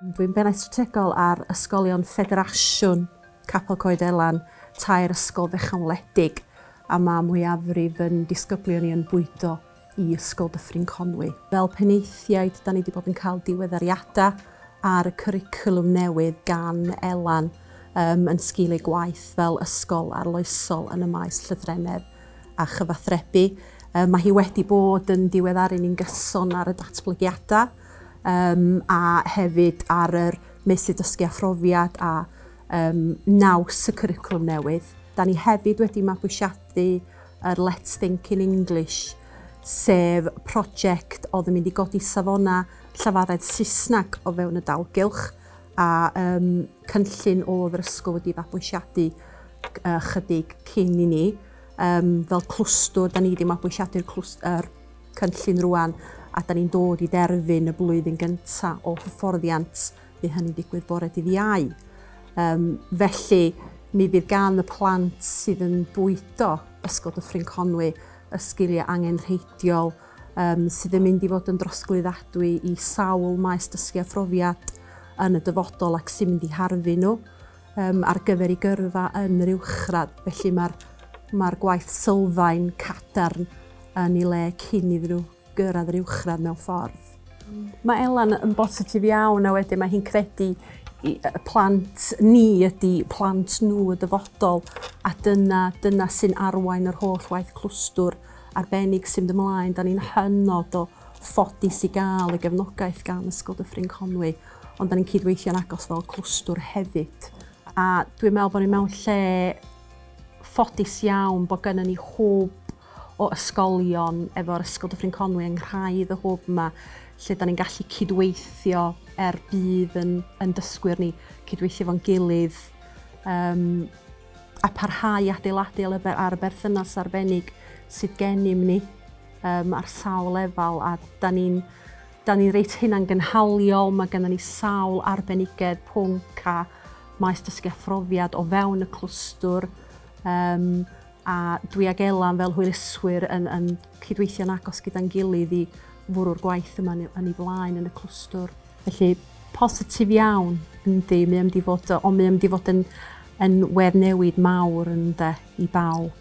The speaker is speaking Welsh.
Dwi'n Bennaeth Strategol ar Ysgolion Ffederasiwn Capel Coed Elan, tair ysgol fechan wledig, a mae mwyafrif yn disgyblion i yn bwydo i Ysgol Dyffryn Conwy. Fel penaethiaid, da ni wedi bod yn cael diweddariadau ar y cwricwlwm newydd gan Elan um, yn sgil ei gwaith fel ysgol arloesol yn y maes llythrennedd a chyfathrebu. Um, mae hi wedi bod yn diweddaru ni'n gyson ar y datblygiadau a hefyd ar yr meysydd dysgu a phrofiad a naws y cwricwlwm newydd. Da ni hefyd wedi mabwysiadu yr Let's Think in English, sef prosiect oedd yn mynd i godi safona llafaredd Saesneg o fewn y dalgylch a cynllun oedd yr ysgol wedi fabwysiadu chydig cyn i ni. Fel clwstwr, da ni wedi mabwysiadu'r cynllun rŵan a da ni'n dod i derfyn y blwyddyn gynta o hyfforddiant, bydd hynny'n digwydd bore dydd Iau. Um, felly, mi fydd gan y plant sydd yn bwydo Ysgol Dyffryn Conwy y sgiliau angenrheidiol um, sydd yn mynd i fod yn drosglwyddadwy i sawl maes dysgu a phrofiad yn y dyfodol ac sy'n mynd i harfu nhw. Yym, ar gyfer ei gyrfa yn yr uwchradd, felly mae'r mae'r gwaith sylfaen cadarn yn ei le cyn iddyn nhw gyrraedd yr uwchradd mewn ffordd. Mae Elan yn bositif iawn a wedyn mae hi'n credu i- y plant ni ydi plant nhw y dyfodol a dyna dyna sy'n arwain yr holl waith clwstwr arbennig sy'n mynd ymlaen. Da ni'n hynod o ffodus i gael y gefnogaeth gan Ysgol Dyffryn Conwy. Ond da ni'n cydweithio'n agos fel clwstwr hefyd. A dwi'n meddwl bod ni mewn lle ffodus iawn bod gennym ni hwb o ysgolion efo'r Ysgol Dyffryn Conwy yng nghraidd y hwb yma lle da ni'n gallu cydweithio er bydd yn, yn dysgwyr ni cydweithio fo'n gilydd um, a parhau adeiladu ar y berthynas arbennig sydd gennym ni um, ar sawl lefel a da ni'n 'Da ni reit hunangynhaliol, mae gennym ni sawl arbenigedd, pwnc a maes dysgu a phrofiad o fewn y clwstwr um, a dwi ag Elan fel hwyluswyr yn, yn cydweithio'n agos gyda'n gilydd i fwrw'r gwaith yma yn ei flaen yn y clwstwr. Felly, positif iawn, yndi, mae am di fod, ond mae am di fod yn, yn wedd newid mawr yn de i bawb.